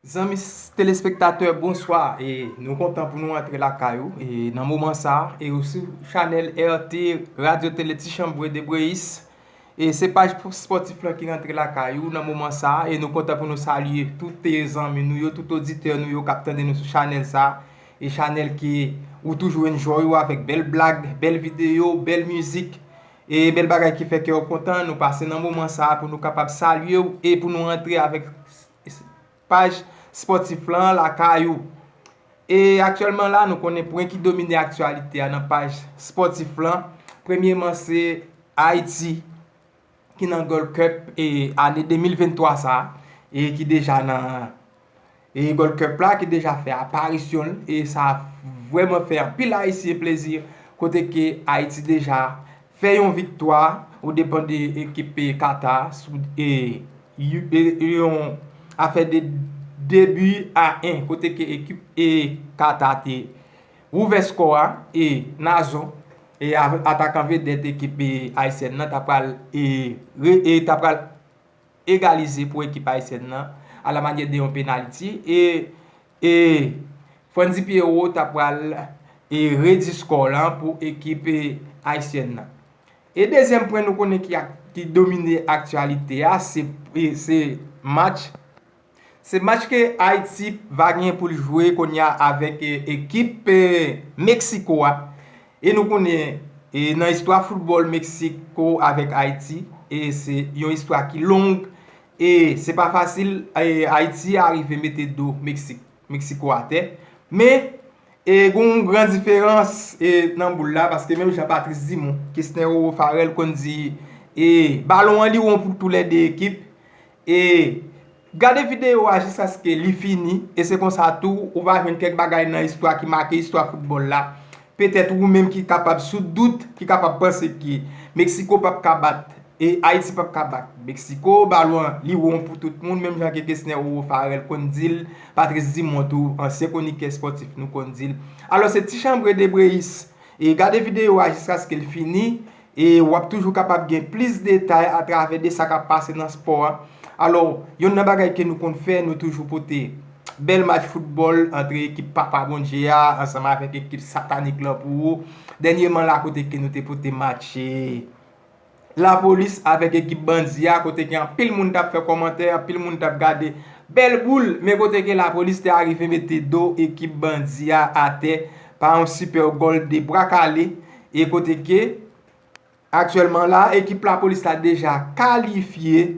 Zanmi telespektatè bonswa e nou kontan pou nou antre lakay ou e nan moman sa e ou sou chanèl RT radyo tele ti chanbre de breyis e se paj spòtif lan ki rantre lakay ou nan moman sa e nou kontan pou nou salye toute zanmi nou yo tout oditè nou yo kap tande nou sou chanèl sa e chanèl ke ou toujou enjoy ou avèk bèl blag bèl videyo bèl mizik E bèl bagay ki fè kè w kontan, nou pase nan moman sa pou nou kapab salye w e pou nou antre avèk paj spòtif lan lakay ou. E aktyèlman la nou konnen pwen ki domine aktyalite a nan paj spòtif lan, premyeman se Ayiti ki nan Gold Cup ane 2023 sa e ki deja nan. E Gold Cup la ki deja fè aparisyon l e sa vrèman fè anpil ayisyen plezi kote ke Ayiti deja fè yon viktwa o depan de ekip peyi Kata sou yon afè de 2 bi a 1 kote ke ekip peyi Kata te ouvè skò a e Nazon atakan vedèt ekip peyi Ayisyèn nan ta pral egalize pou ekip ayisyèn nan a la manyè de yon penaliti e e Frantzy Pierrot ta pral e redi skò lan pou ekip ayisyèn nan. E dezyèm pwen nou konnen ki domine aktyalite a se match Se match ke Ayiti va gen pou l jwe kounye a avèk ekip Meksiko a. E nou konnen nan istwa foutbòl Meksiko avèk Ayiti, se yon istwa ki long. E se pa fasil Ayiti arive mete do Meksiko atè. Men, gen yon gran diferans nan boul la, paske menm jan Patrice Dumont, Kesnel Farel konn di, balon an li won pou tou lè 2 ekip. E gade videyo a jiskaske li fini, e se konsa tou ou va jwenn kèk bagay nan istwa ki make istwa foutbòl la. Petèt ou menm ki kapab sou dout, ki kapab panse ke Meksiko pap ka bat, e Ayiti pap ka bat Meksiko, balon an li won pou tout moun, menm jan ke Kesner Roro Pharel konn di l, Patrice Dumont tou, ansyen kwonikè espòtif nou konn di l. Alò se Tichambre Debreyis. E gade videyo a jiskaske l fini. E w ap toujou kapab gen plis detay atravè de sa k ap pase nan spò a. Alò, yonn nan bagay ke nou konn fè, nou toujou pote bèl match foutbòl antre ekip Papa Bondye a ansanm avèk ekip satanik lan pou ou. Dènyeman la kote ke nou te pote match Lapolis avèk ekip bandi a kote ke anpil moun t ap fè kòmantè, anpil moun t ap gade bèl boul, men kote ke Lapolis te arive mete do ekip bandi a atè pa yon sipè gòl de bra kale. E kote ke, aktyèlman la, ekip lapolis la deja kalifye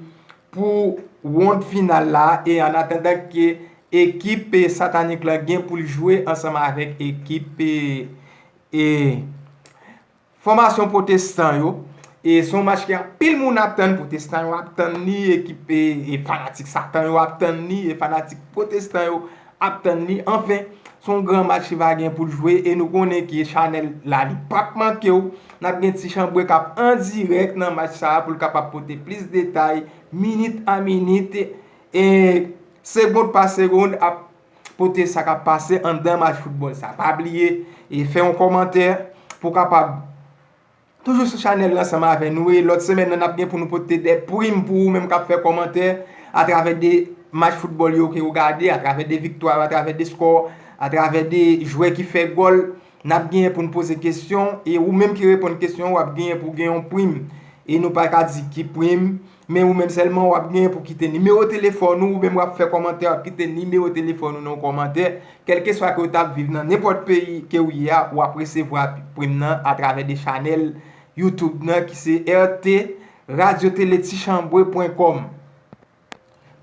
pou wonn final la e an atandan ke ekip satanik la gen pou l jwe ansanm avèk ekip e fòmasyon pwotestan yo. E son match ke anpil moun ap tann, pwotestan yo ap tann li, ekip e fanatik satan yo ap tann li, e fanatik pwotestan yo ap tann li anfen son gran match li va gen poul jwe e nou konnen ki chanèl la li pap mankew nap gen ti chanbwe kap an dirèk nan match sa poul kapab pote plis detay minit a minit e segond pa segond ap pote sa kap pase anndan match foutbòl sa pa bliye fè yon kòmantè pou kapab Toujou sou chanèl la ansanm avè nou e lòt semèn nan nap gen pou nou pote 2 prim pou ou menm kap fè kòmantè atravè 2 match foutbòl yo ke ou gade, atravè 2 viktwa yo, atravè 2 skò, atravè 2 jwè ki fè gòl nap genyen pou nou poze kesyon e ou menm ki reponn kesyon wap genyen pou gen yon prim e nou paka di ki prim. Men ou menm sèlman wap genyen pou kite nimewo telefòn ou, ou menm wap fè kòmantè wap kite nimewo telefòn ou nan kòmantè, kèlkeswa ke ou ta viv nan nenpòt peyi ke ou ye a wap resevwa prim nan atravè de chanèl YouTube nan ki se RT Radio Télé Tichanbwe pwen kòm.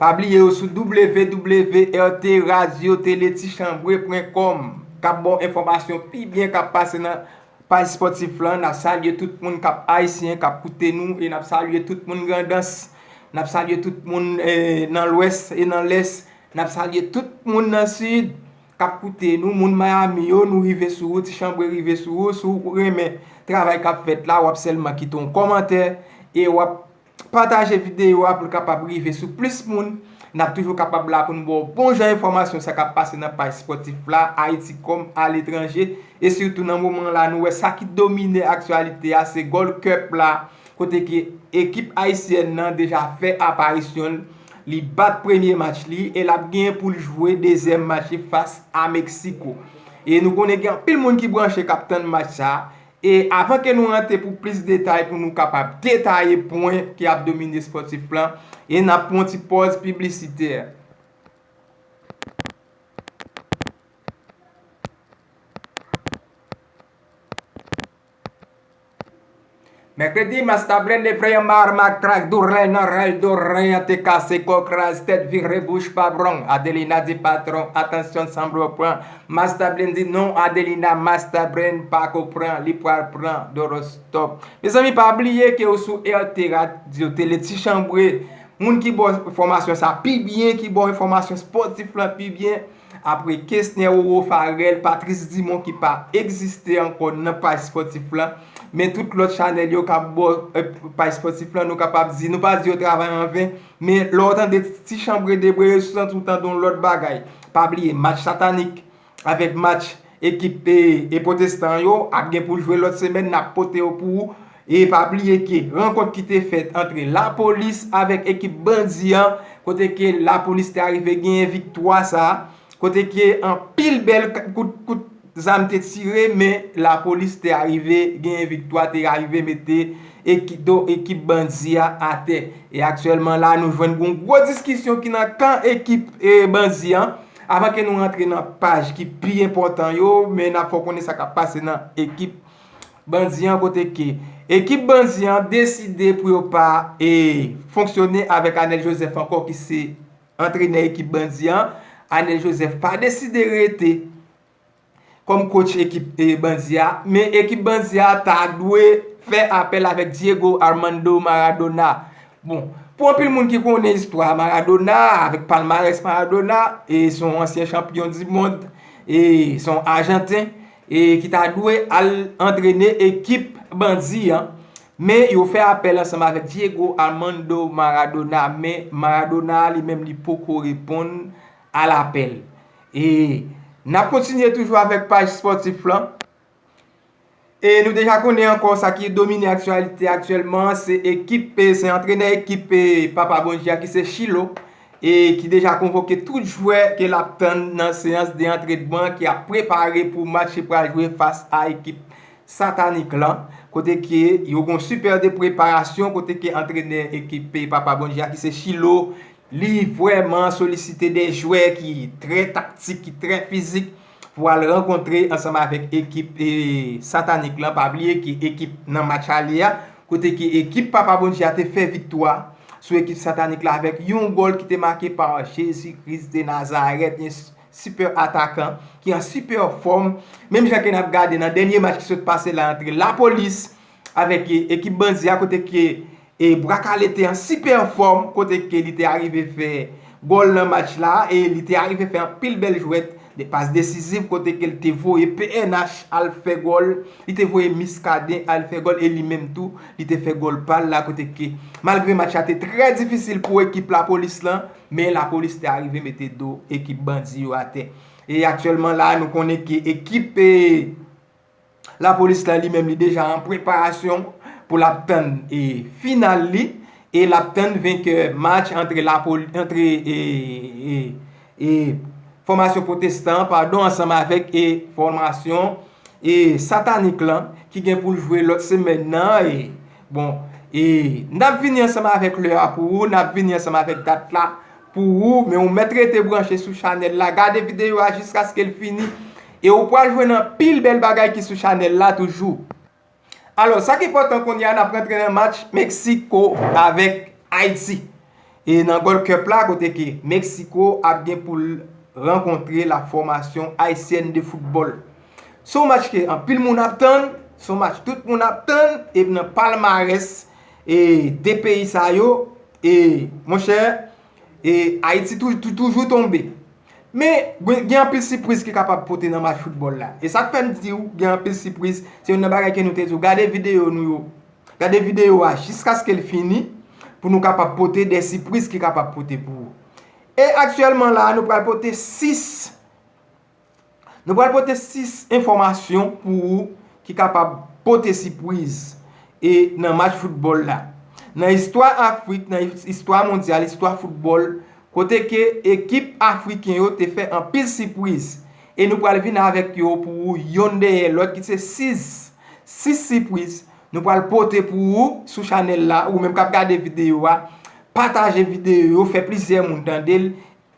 Pa bliye yo sou www.rtradiotelettichanbwe pwen kòm kap ba w enfòmasyon pi byen kap pase nan Paj spòtif lan, nap salye tout moun kap ayisyen kap koute nou e nap salye tout moun grandans, nap salye tout moun nan lwès e nan lès, nap salye tout moun nan sid kap koute nou, moun miami yo nou rive sou ou, ti chanbre rive sou ou, si w renmen travay kap fèt la wap sèlman kite yon kòmantè e wap Pataje videyo a pou l kapab rive sou plis moun. N ap toujou kapab la pou n ba w bon jan enfòmasyon sa k ap pase nan paj spòtif la, Ayiti kòm aletranje. E sitou nan moman la nou wè sa ki domine aktyalite a se Gold Cup la kote ke ekip ayisyèn nan deja fè aparisyon l. Li bat premye match li e l ap gen pou l jwe dezyèm match li fas a Meksiko. E nou konnen gen anpil moun ki branche k ap tann match sa E avan ke nou rantre pou plis detay pou nou kapab detaye pwen ki ap domine Sportif Plan e nap pran yon ti pòz piblisitè. Mèkredi, Mas Tablè leve an ma rmak trak doulè nan rèl do ren an te kase kò kraz tèt vire bouch pa bwong Adelina di patron atansyon sanble w pran Mastablend di non Adelina Mastabrend pako pran li pwal pran dorostop mezanmi pa bliye ke ou sou RT radio tele ti chanbre moun ki baw enfòmasyon sa pi byen ki baw enfòmasyon spòtif lan pi byen apre kesnè roro farel patrice dimon ki pa egziste ankò nan paj spòtif lan men tout lòt chanèl yo kap baw paj spòtif lan nou kapab di nou pa di yo travay anven Men lè w tande ti chanbre debreye sou santi w tande yon lòt bagay. Pa bliye match satanik avèk match ekip e potestan yo ap gen pou jwe lòt semèn n ap pote yo pou ou e pa bliye ke rankont ki te fèt antre lapolis avèk ekip bandi an kote ke lapolis te arive genyen viktwa sa kote ke anpil bèl kout zam te tire men lapolis te arive genyen viktwa, te arive mete ekip bandi a atè. E aktyèlman la nou jwenn gon gwo diskisyon ki nan kan ekip bandi an. Avan ke nou rantre nan paj ki pi enpòtan yo, men nap fè w konnen sa kap pase nan ekip bandi an kote ke ekip bandi an deside pou yo pa fonksyone avèk Anèl Joseph ankò ki se Antrenè ekip bandi an, Anel Joseph pa deside rete kòm coach ekip bandi a, men ekip bandi a ta dwe fè apèl avèk Diego Armando Maradona. Bon, pou anpil moun ki konnen istwa Maradona, avèk palmarès Maradona, e se yon ansyen chanpyon di mond, e se yon ajanten, e ki ta dwe al antrene ekip bandi an. Men yo fè apèl ansanm avèk Diego Armando Maradona men Maradona li menm li poko reponn a lapèl. E nap kontinye toujou avèk paj spòtif lan. E nou deja konnen ankò sa ki domine aktyalite aktyèlman an se ekip se antrenè ekip papa bondye a ki se Chilo e ki deja konvoke tout jwè ke lap tann nan seyans de antrenman ki ap prepare pou match li pral jwe fas a ekip satanik lan kote ke yo gon super de preparasyon kote ke antrenè ekip peyi papa Bondye a ki se Chilo li vrèman solisite de jwè ki trè taktik ki trè fizik pou al rankontre ansanm avèk ekip satanik lan pa bliye ke ekip nan match ale a kote ke ekip papa Bondye a te fè viktwa sou ekip satanik la avèk yon gòl ki te make pa Jezi Kris de Nazarèt. Super atakan ki an super fòm, menm jan ke nap gade nan dènye match ki sot pase la antre la police avèk ekip bandi a kote ke Bwa kale te an super fòm kote ke li te arive fè gòl nan match la e li te arive fè anpil bèl jwèt, de pas desiziv kote ke li te voye pnh al fè gòl, li te voye Miskaden al fè gòl e li menm tou li te fè gòl pal la kote ke malgre match la te trè difisil pou ekip la police lan. Men lapolis te arive mete do ekip bandi yo atè. E aktyèlman la a nou konnen ke ekip e lapolis la li menm li deja an preparasyon pou l ap tann e final li e l ap tann venkè match antre lapolis antre e e e fòmasyon pwotestan an padon ansanm avèk e fòmasyon e satanik lan ki gen pou l jwe lòt semèn nan e Bon, e, n ap vini ansanm avèk lè a pou ou, n ap vini ansanm avèk dat la pou ou, men ou mèt rete branche sou chanèl la, gade videyo a jiskaske l fini, e ou pral jwenn anpil bèl bagay ki sou chanèl la toujou. Alò, sa k enpòtan kounye a, n ap rantre nan match Meksiko avèk Ayiti. E nan Gold Cup la kote ke Mexico ap gen pou l rankontre la formation Haitienne de football. Se yon match ke anpil moun ap tann, se yon match tout moun ap tann e nan palmarès e 2 peyi sa yo e mon chè e Haiti toujou tonbe. Men gen anpil sipriz ki kapab pote nan match football la. E sa k fè m di w gen anpil sipriz, se yon nan bagay ke nou te di w gade video nou yo. Gade videyo a jiskaske l fini pou nou kapab pote de sipriz ki kapab pote pou ou. E aktyèlman la a nou pral pote 6 nou pral pote 6 enfòmasyon pou ou ki kapab pote sipriz e nan match foutbòl la. Nan istwa Afrik, nan istwa mondyal, istwa foutbòl kote ke ekip afriken yo te fè anpil sipriz. E nou pral vin avèk yo pou ou yonn dèyè lòt ki se 6, 6 sipwiz nou pral pote pou ou sou chanèl la, ou menm kap gade videyo a pataje videyo yo fè plizyè moun tandel,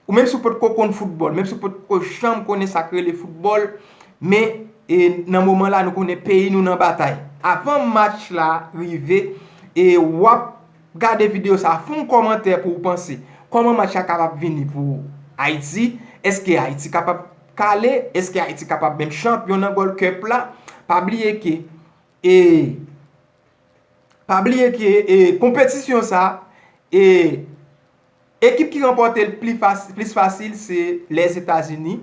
ou menm si ou potko konn foutbòl, menm si ou potko janm konnen sak rele foutbòl men e nan moman la nou konnen peyi nou nan batay avan match la rive e wap. Gade video sa a fon kòmantè pou ou panse kòman match la kapab vini pou Ayiti, eske Ayiti kapab kale, eske Ayiti kapab menm chanpyon nan Gold Cup la, pa bliye ke e pa bliye ke e konpetisyon sa a e ekip ki ranpòte l plis fasil se Lèzetazini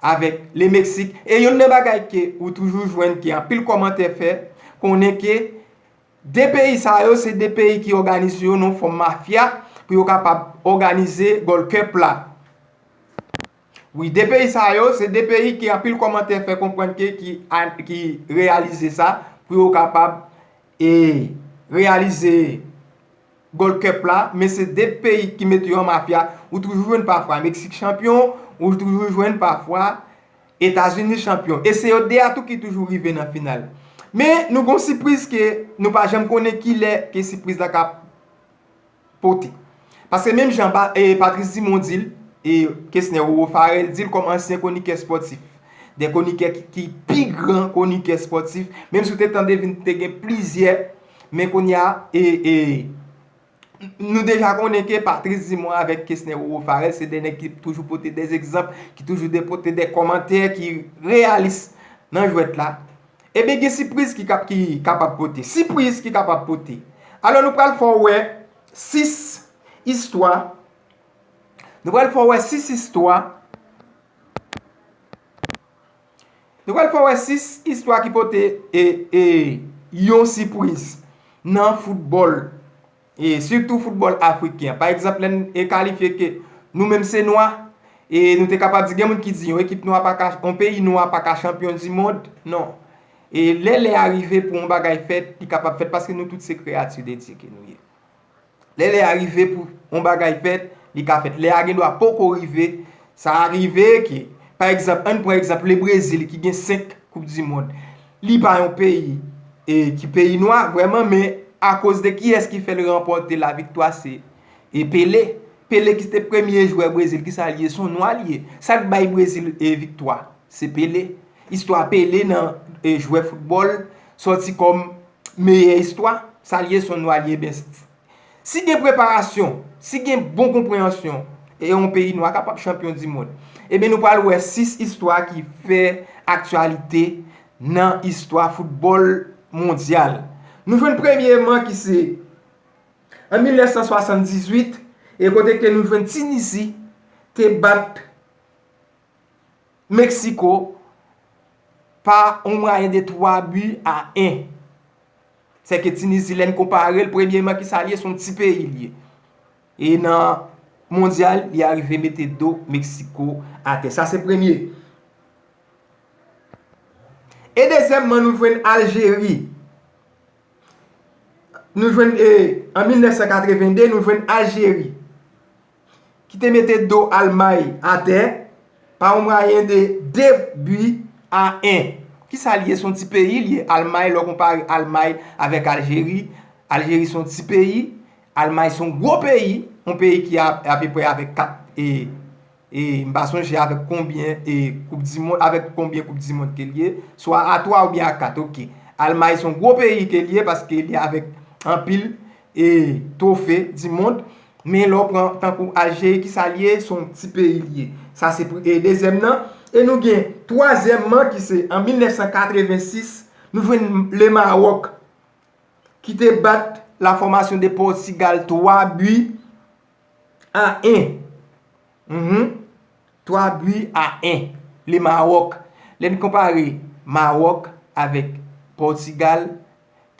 avèk Le Meksik e youn nan bagay ke ou toujou jwenn ke anpil kòmantè fè konnen ke De peyi sa yo se de peyi ki òganize yo nan fòm mafya pou yo kapab òganize Gold Cup la. Wi, de peyi sa yo se de peyi ke anpil kòmantè fè konprann ke ki reyalize sa pou yo kapab e reyalize Gold Cup la, men se de peyi ki mete yo an mafya. Ou toujou jwenn pafwa Meksik chanpyon, ou toujou jwenn pafwa. Etazini chanpyon e se yo 2 a tou ki toujou rive nan final. Men nou gon sipriz ke nou pa janm konnen kilè ke sipriz la ka pote. Paske menm jan Patrice Dumont di l e Kesner Roro Farel di l kòm ansyen kwonikè spòtif. 2 kwonikè ki pi gran kwonikè spòtif menm si w te tande vin te gen plizyè men kounye a e. Nou deja konnen ke Patrice Dumont avèk Kesner Roro Pharel se 2 nèg ki toujou pote 2 egzanp, ki toujou depote 2 kòmantè ki reyalis nan jwèt la. Ebyen gen sipriz ki kapab pote. Sipriz ki kapab pote. Alò nou pral fè w wè 6 istwa, nou pral fè w wè 6 istwa. Nou pral fè w wè 6 istwa ki pote yon sipwiz nan foutbòl e sitou foutbòl afriken. Pa egzanp lè n kalifye ke nou menm se nwa e nou te kapab di gen moun ki di yon ekip nwa pa ka, yon peyi nwa pa ka chanpyon di mond. Non. E lè lè a rive pou yon bagay fèt, li kapab fèt paske nou tout se kreyati de Dye ke nou ye. Lè lè a rive pou yon bagay fèt, li ka fèt. Lè a gen dwa poko rive. Sa rive ke, pa egzanp, ann pran egzanp Le Brezil ki gen 5 koup di mond. Li pa yon peyi e ki peyi nwa vrèman men akoz de kiyès ki fè l ranpòte la viktwa se e Pele. Pele ki te premye jwè Brezil ki sa l ye? S on nwa l ye. Sa k bay Brezil e viktwa? Se Pele. Istwa Pele nan jwè foutbòl sòti kòm meyè istwa, sa l ye s on lwa li eben si gen preparasyon, si gen bon konpreyansyon e yon peyi nwa kapab chanpyon dimond. Eben nou pral wè 6 istwa ki fè aktyalite nan istwa foutbòl mondyal. Nou jwenn premyeman ki se an 1978 e kote ke nou jwenn Tinizi te bat. Mexico pa on mwayen de 3 bi a 1. Se ke Tunisie lè n konpare l premyeman ki sa l ye, se yon ti peyi l ye. E nan mondyal li arive mete do Mexico a tè. Sa se premye. E dezyèmman nou jwenn Algerie. Nou jwenn e an 1982 nou jwenn Algerie. ki te mete do Almay atè pa yon mwayen de 2 bi a 1. Ki sa li ye? Se yon ti peyi li ye. Almay, lè w konpare Almay avèk Aljeri, Aljeri se yon ti peyi, Almay se yon gwo peyi, yon peyi ki a apeprè avèk 4 e m pa sonje avèk konbyen e koup di mond, avèk konbyen koup di mond ke li ye, swa a 3 oubyen a 4, ok. Almay se yon gwo peyi ke li ye paske li avèk anpil e twofe di mond men lè w pran tankou Algérie ki sa l ye se yon ti peyi l ye sa se pou e dezyèm nan e nou gen twazyèm man ki se an 1986 nou jwenn le Maroc ki te bat la formation de Portugal 3 buts a 1 Mph 3 bui a 1 Le Maroc Lè n konpare Maroc avèk Portugal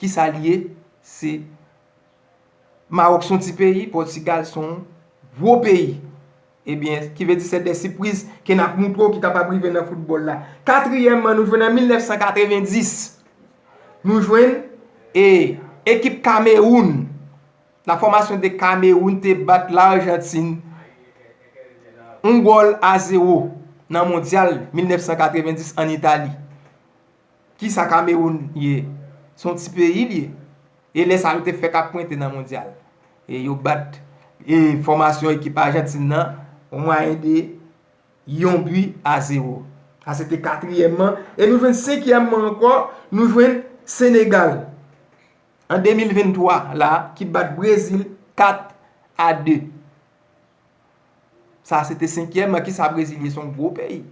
ki sa li ye? Se Maroc son ti peyi, Portugal son gwo peyi. Ebyen, ki vle di se de sipriz ke n ap montre w ki kapab rive nan foutbòl la. Katriyèmman, nou jwenn an 1990, nou jwenn e ekip Cameroun La formation de Cameroun te bat L'Argentine 1 gòl a 0 nan mondyal 1990 an Itali. Kisa Cameroun ye? Se yon ti peyi li ye. E lè sa yo te fèk ap pwente nan mondyal. E yo bat formation ekip Argentine nan o mwayen de yon bi a 0. Sa se te katriyèm an. E nou jwenn senkyèm an ankò, nou jwenn Senegal. An 2023 la ki bat Brezil 4 a 2. Sa se te senkyèm an. Kisa Brezil ye? Se yon gwo peyi.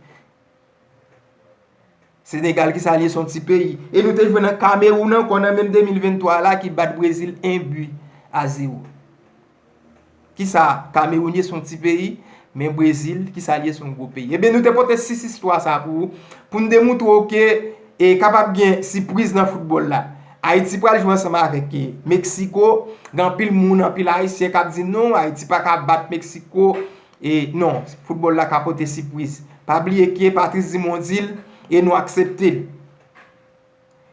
Senegal kisa li ye? Se yon ti peyi. E nou te jwe nan Kamewoun ankò nan menm 2023 la ki bat Brezil 1 bi a 0. Kisa Kameroun ye son ti peyi, men Brezil kisa l ye son gwo peyi. Ebyen nou te pote 6 istwa sa pou ou, pou n demoutre w ke e kapab gen sipriz nan foutbòl la. Ayiti pral jwe ansanm avèk e Meksiko, gen anpil moun, anpil ayisyen k ap di non Ayiti pa ka bat Meksiko, e non foutbòl la ka pote sipriz. Pa bliye ke Patrice Dumont di l e nou aksepte l.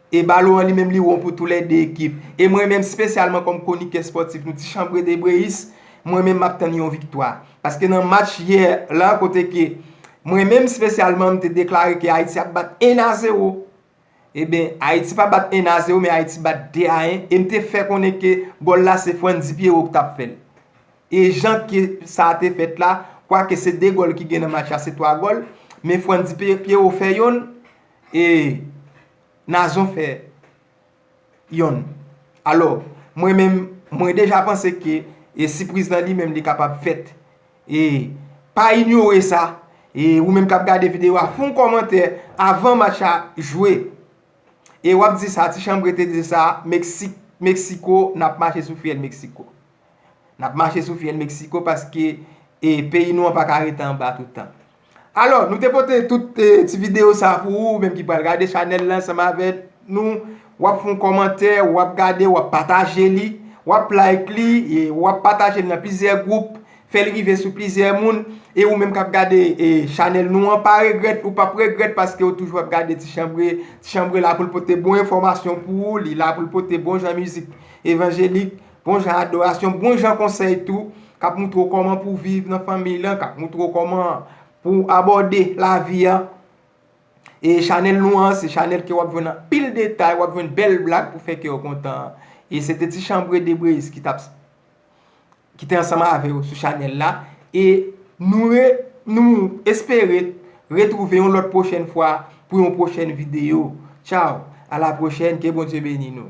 E balon an li menm li won pou tou lè 2 ekip. E mwen menm spesyalman kòm kwonikè spòtif nou ti chanbre debreyis, mwen menm map tann yon viktwa. Paske nan match yè la kote ke mwen menm spesyalman m te deklare ke Ayiti ap bat 1 a 0. Eben, Ayiti pa bat 1 a 0 men Ayiti bat 2 a 1 e m te fè konnen ke gòl la se Frantzy Pierrot ki tap fèl. E jan ke sa te fèt la, kwake se 2 gòl ki gen nan match la se 3 gòl, men Frantzy Pierrot fè yonn, E Nazon fè yonn. Alò, mwen menm, mwen deja panse ke e sipriz lan li menm li kapab fèt. E pa inyore sa. E ou menm k ap gade videyo a, fon kòmantè avan match a jwe. E w ap di sa, ti chanbre te di sa, Meksik, Meksiko, n ap mache sou fyèl Meksiko. N ap mache sou fyèl Meksiko paske peyi nou an pa ka rete anba tout tan. Alò, nou te pote tout ti videyo sa a pou ou, ou menm ki pral gade chanèl la ansanm avèk nou. W ap fè yon kòmantè, w ap gade, w ap pataje li, w ap like li, w ap pataje li nan plizyè gwoup, fè l rive sou plizyè moun. E ou menm k ap gade chanèl nou an, pa regrèt, ou p ap regrèt paske ou toujou ap gade Ti Chanbre. Ti Chanbre la pou l pote bon enfòmasyon pou ou, li la pou l pote bon jan mizik evanjelik. Bon jan adorasyon, bon jan konsèy tou, k ap moutre w kòman pou w viv nan fanmiy lan, k ap moutre w kòman pou w abòde lavi an. E chanèl nou an, se chanèl ke w ap jwenn anpil detay, w ap jwenn bèl blag pou fè kè w kontan. E se te ti chanbre de Brezz ki t ap ki te ansanm avè w sou chanèl la. E nou re nou espere retwouve yon lòt pwochèn fwa pou yon pwochèn videyo. Tchaw! A la pwochèn, ke Bondye beni nou!